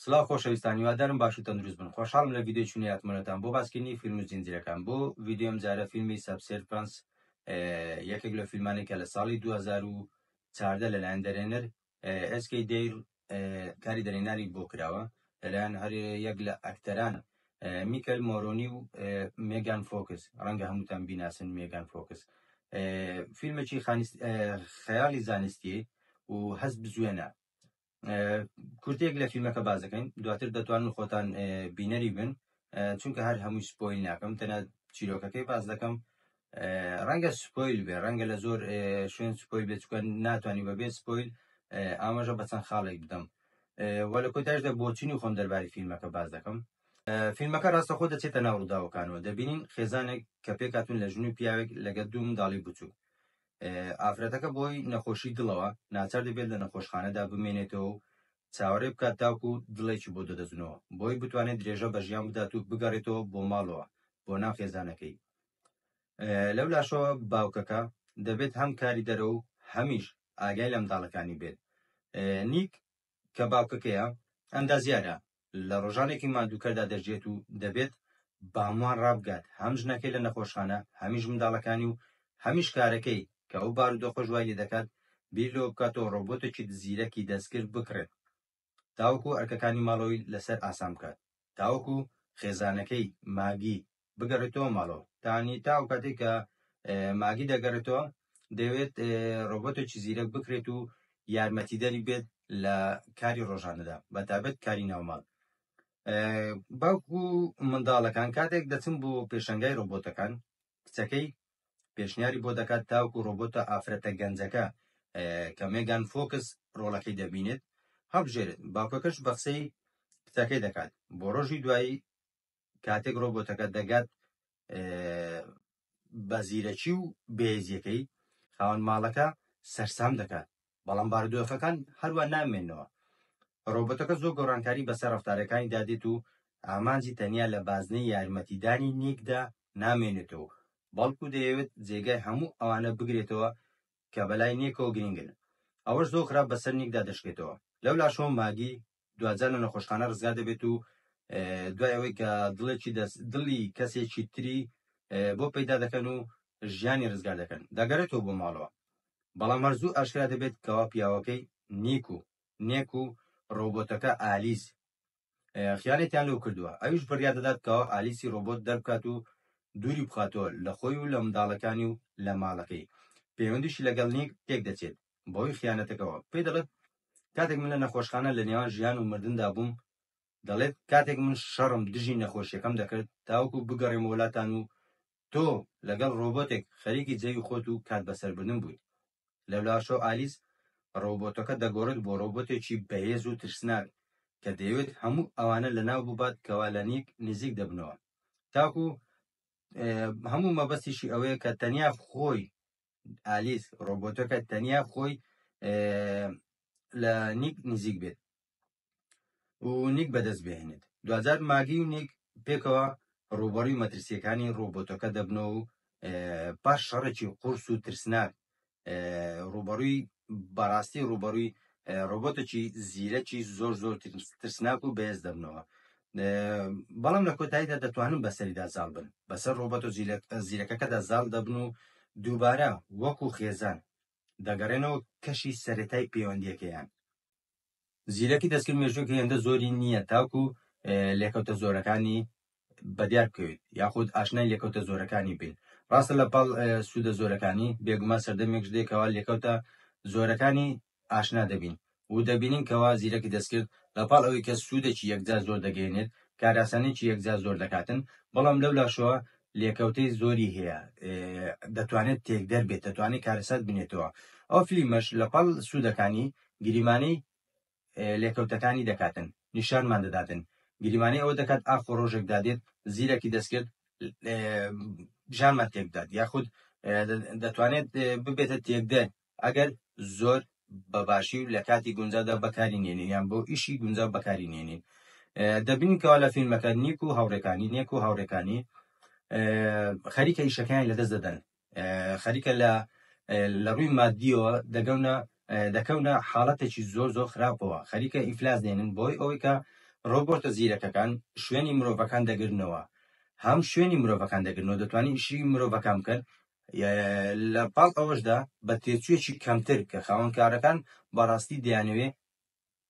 سلاو خۆشەویستان هیوادارم باش و تەندروست بن خۆشحاڵم لە ڤیدیۆی چونی هاتمەتان بۆ باسکردنی فیلم و زنجیرەکان بۆ ڤیدیۆم جارە فیلمی سەبسێر پرنس یەکێک لە فیلمانی کە لە ساڵی 2014 لەلایەن دەرێنەر SK دیر کاری دەرێنانی بۆ کراوە لەلایەن هەر یەک لە ئەکتەران میکەل مۆرۆنی و مێگان فۆکس ڕەنگە هەمووتان بیناسن مێگان فۆکس فیلمێکی خیالی زانستی و هەست بزوێنە کورتێک لە فیلمەکە باز دەکەین دواتر دەتوانن خۆتان بینەری بن چونکە هەر هەمووی سپۆیل ناکەم تەنە چیرۆکەکەی باز دەکەم ڕەنگە سپۆیل بێ ڕەنگە لە زۆر شوێن سپۆیل بێت چکە ناتوانانی بەبێ سپۆیل ئاماژە بە چەند خاڵێک بدەم وە لە کۆتاشدا بۆچینی خۆم دەرباری فیلمەکە باز دەکەم فیلمەکە ڕاستەخۆ دەچێتە ناو ڕووداوەکانەوە دەبینین خێزانێک کە پێکاتون لە ژن و پیاوێک لەگە دوو منداڵی بچوو ئافرەتەکە بۆی نەخۆشی دڵەوە ناچار دەبێت لە نەخۆشخانەدا بمێنێتەوە و چاوەڕێ بکات تاکو و دڵێکی بۆ دەدەزنەوە بۆی بتوانێت درێژە بە ژیان بدات و بگەڕێتەوە بۆ ماڵەوە بۆ ناو خێزانەکەی لەو لاشەوە باوکەکە دەبێت هەم کاری دەرە و هەمیش ئاگای لە منداڵەکانی بێت نیک کە باوکەکەیە، ئەندازیارە، لە ڕۆژانێکی ماندووکەردا دەژێت و دەبێت باموان ڕابگات، هەم ژنەکەی لە نەخۆشخانە، هەمیش منداڵەکانی و هەمیش کارەکەی، کە ئەو بارودۆخەش وای لێدەکات بیر لەوە بکاتەوە ڕۆبۆتێکی زیرەکی دەستکرد بکڕێت تاوەکو ئەرکەکانی ماڵەوەی لەسەر ئاسان بکات، تاوەکو خێزانەکەی، ماگی، بگەڕێتەوە ماڵەوە تانی تا ئەو کاتێک کە ماگی دەگەڕێتەوە دەوێت ڕۆبۆتێکی زیرەک بکرێت و یارمەتیدەری بێت لە کاری ڕۆژانەدا بە تابەت کاری ناوماڵ باوکو منداڵەکان کاتێک دەچم بۆ پێشنگای ڕۆبۆتەکان کچەکەی پێشنیاری بۆ دەکات تاوکو ڕۆبۆتە ئافرەتە گەنجەکە کە مێگان فۆکس ڕۆڵەکەی دەبینێت هەڵبژێرێت باوکەکەش بەخسەی کچەکەی دەکات بۆ ڕۆژی دوایی کاتێک ڕۆبۆتەکە دەگات بە زیرەکی و بێزیەکەی خاوەن ماڵەکە سەرسام دەکات بەڵام باردۆخەکان هەروە نامێنەوە ڕۆبەتەکە زۆر گۆڕانکاری بەسەر ڕفتارەکانی دادێت و ئامانجی تەنیا لە بازنەی یارمەتیدانی نیکدا نامێنێتەوە بەڵکو دەیەوێت جێگای هەموو ئەوانە بگرێتەوە کە بەلای نیکەوە گرنگن ئەوەش زۆر خراپ بەسەر نیکدا دەشکێتەوە لەو لاشەوە ماگی دواجار لە نەخۆشخانە ڕزگار دەبێت و دوای ئەوەی کە دڵێکی دەست دڵی کەسێکی تری بۆ پەیدا دەکەن و ژیانی ڕزگار دەکەن دەگەرێتەوە بۆ ماڵەوە بەڵام هەرزوو ئاشکرا دەبێت کەوا پیاوەکەی نیک و نێک و ڕۆبۆتەکە ئالیس خیانێتیان لەو کردووە ئەویش بڕیا دەدات کەوا ئالیسی ڕۆبۆت دەربکات و دووری بخاتەوە لە خۆی و لە منداڵەکانی و لە ماڵەکەی پەیوەندیشی لەگەڵ نیک تێک دەچێت بەهۆی خیانەتەکەوە پێی دەڵێت کاتێک من لە نەخۆشخانە لە نێوان ژیان و مردندا بووم دەڵێت کاتێک من شەڕم دژی نەخۆشیەکەم دەکرد تاوەکو بگەڕێم وڵاتان و تۆ لەگەڵ ڕۆبۆتێک خەریکی جەوی خۆت و کات بەسەربردن بوویت لەولاشەوە ئالیس ڕۆبۆتەکە دەگۆڕێت بۆ ڕۆبۆتێکی بەهێز و ترسناک کە دەیەوێت هەموو ئەوانە لەناو ببات کەوا لە نیک نزیک دەبنەوە تاکو هەموو مەبەستیشی ئەوەیە کە تەنیا خۆی ئالیس ڕۆبۆتەکە تەنیا خۆی لە نیک نزیک بێت و نیک بەدەست بهێنێت دوجار ماگی و نیک پێکەوە ڕوبەڕی مەترسیەکانی ڕۆبۆتەکە دەبنەوە و پاش شەڕێکی قورس و ترسناک ڕوبەڕوی بەڕاستی ڕوبەڕوی ڕۆبۆتەکی زیرەکی زۆر زۆر ترسناک و بەهێز دەبنەوە بەڵام لە کۆتاییدا دەتوانن بەسەریدا زاڵ بن بەسەر ڕۆبەتۆ زیرەکەکەدا زاڵ دەبن و دووبارە وەکو خێزان دەگەڕێنەوە کەشی سەرەتای پەیوەندیەکەیان زیرەکی دەستکرد مێژووک هێندە زۆری نییە تاکو لێکەوتە زۆرەکانی بەدیار بکەوێت یاخود ئاشنای لێکەوتە زۆرەکانی بین ڕاستە لە پاڵ سوودە زۆرەکانی بێگومان سەردەمێک دێکەوە لێکەوتە زۆرەکانی ئاشنا دەبین و دەبینین کەوا زیرەکی دەستکرد لە پاڵ ئەوەی کە سوودێکی یەکجار زۆر دەگەیەنێت، کارئاسانییەکی یەکجار زۆر دەکاتن، بەڵام لەو لاشەوە لێکەوتەی زۆری هەیە، دەتوانێت تێکدەر بێت، دەتوانێت کارەسات بنێتەوە. ئەو فلیمەش لە پاڵ سوودەکانی، گریمانەی لێکەوتەکانی دەکاتن، نیشانمان دەداتن، گریمانەی ئەوە دەکات ئاخۆ ڕۆژێک دادێت زیرەکی دەستکرد ژانمان تێک بدات، یاخود دەتوانێت ببێتە تێکدەر ئەگەر زۆر بە باشی و لە کاتی گونجاودا بەکاری نێنین یان بۆ ئیشی گونجاو بەکاری نێنین دەبینین کەوا لە فیلمەکە نیک و هاوڕێکانی نێک و هاوڕێکانی خەریکە ئیشەکانی لەدەست دەدەن خەریکە لە لە ڕووی مادیەوە دەگەونە دەکەونە حاڵەتێکی زۆر زۆر خراپەوە خەریکە ئیفلاس دێنن بۆی ئەوەی کە ڕۆبۆرتە زیرەکەکان شوێنی مرۆڤەکان دەگرنەوە هەم شوێنی مرۆڤەکان دەگرنەوە دەتوانین ئیشی مرۆڤەکان بکەن لە پاڵ ئەوەشدا بە تێچوویەکی کەمتر کە خاوەن کارەکان بەڕاستی دەیانەوێ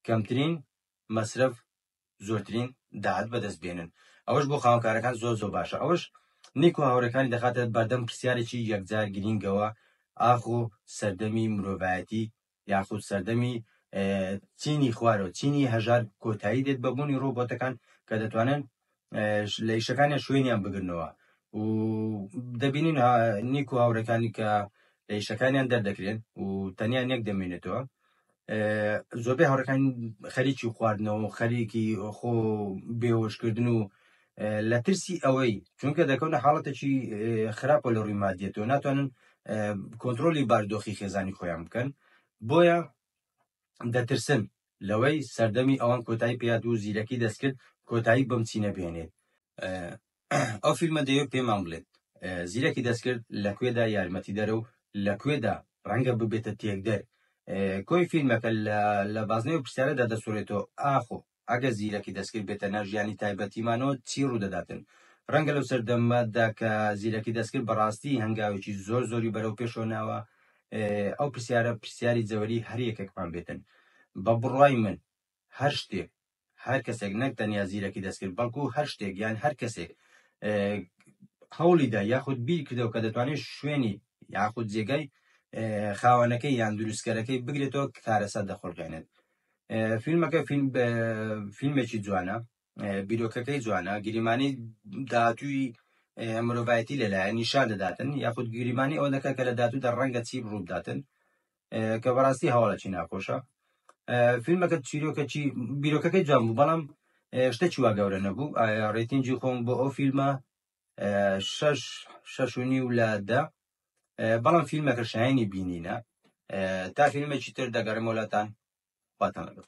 کەمترین مەسرەف زۆرترین داهات بەدەست بێنن ئەوەش بۆ خاوەن کارەکان زۆر زۆر باشە ئەوەش نیک و هاوڕەکانی دەخاتە بەردەم پرسیارێکی یەکجار گرینگەوە ئاخۆ سەردەمی مرۆڤایەتی یاخود سەردەمی چینی خوارەوە چینی هەژار کۆتایی دێت بە بوونی ڕۆبۆتەکان کە دەتوانن لە ئیشەکانیان شوێنیان بگرنەوە و دەبینین نیک و هاوڕەکانی کە لە ئیشەکانیان دەردەکرێن و تەنیا نێک دەمێنێتەوە زۆربەی هاوڕەکان خەریکی خواردنەوە خەریکی خۆ بێوەشکردن و لە ترسی ئەوەی چونکە دەکەونە حاڵەتێکی خراپە لە ڕووی مادیەتەوە ناتوانن کۆنتترۆلی باردۆخی خێزانی خۆیان بکەن بۆیە دەترسن لەوەی سەردەمی ئەوان کۆتایی پێات و زیرەکی دەستکرد کۆتایی بەم چینە بێنێت ئەو فیلمە دەیە پێمان بڵێت زیرەکی دەستکرد لە کوێدا یارمەتی دەرە و لە کوێدا ڕەنگە ببێتە تێکدەر کۆی فیلمەکە لە بازنەوە پرسیارەدا دەسوورێتەوە ئاخۆ ئەگەر زیرەکی دەستکرد بێتە ناو ژیانی تایبەتیمانەوە چی ڕوودەداتن؟ ڕەنگە لەو سەردەمە دا کە زیرەکی دەستکرد بەڕاستی هەنگاوێکی زۆر زۆری بەرەو پێشەوە ناوە ئەو پرسیارە پرسیاری جەوەری هەر یەکێکمان بێتن. بە بڕوای من هەر شتێک هەر کەسێک نەک تەنیا زیرەکی دەستکرد بەڵکو هەر شتێک یان هەر کەسێک هەوڵی دا یاخود بیر کردەوە کە دەتوانێت شوێنی یاخود جێگای خاوەنەکەی یان دروستکەرەکەی بگرێتەوە کارەسات دەخوڵقێنێت فیلمەکە فیلمێکی جوانە بیرۆکەکەی جوانە گریمانی داهاتووی مرۆڤایەتی لەلایە نیشان دەداتن یاخود گریمانی ئەوە دەکات کە لە دااتوودا ڕەنگە چی ڕووداتن کە بەڕاستی هەواڵەکی ناخۆشە فیلمەکە چیرۆکەکی بیرۆکەکەی جوان بوو بەڵام شتەکی وا گەورە نەبوو ڕێتینجی خۆم بۆ ئەو فیلمە شش شش و نیو لە دە بەڵام فیلمەکە شایانی بینینە تا فیلمێکی تر دەگەرم وەلاتان خواتان لەگەڵ